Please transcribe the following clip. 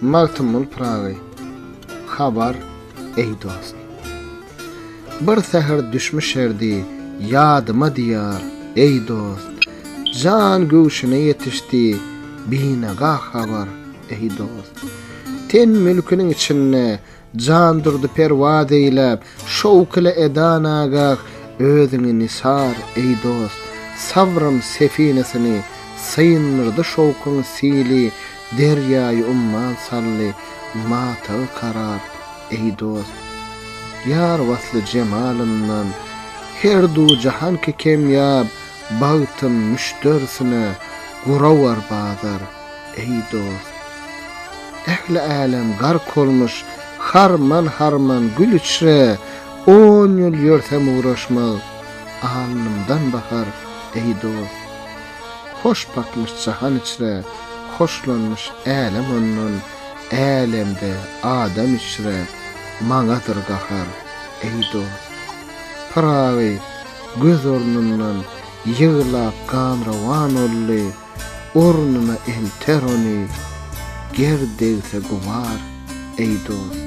Magtymguly Pyragy Habar, eý dost! Bir säher düşmüşerdi ýadyma Diýar, eý dost! Jan göwşüne ýetişdi Binagah Habar, eý dost! Ten mülküniň içinde Jandurdy perwaz eýläp, şowk ile edan agah, Özüňi nisar, eý dost, sabrym sefinesini, Syndyrdy şowkuň sili, derýaýy umman saldy, Matagy karar, eý dost. Ýar wasly jemalyndan, her du jahanki kemýap, Bagtym müşderisine, gurawar bazar. Eý dost! Ähli älem gark olmuş, Harman-harman gül içre, On ýyl ýörsem ugraşmaz, Alnymdan bahar, eý dost! Hoş bakmyş jahan içre, Hoşlanmyş älem ondan, Älemde adam içre, Maňadyr gahar, eý dost! Pyragy göz ornundan Ýyglap gan rowan oldy, Ornuna elter ony, Ger degse gubar, eý dost.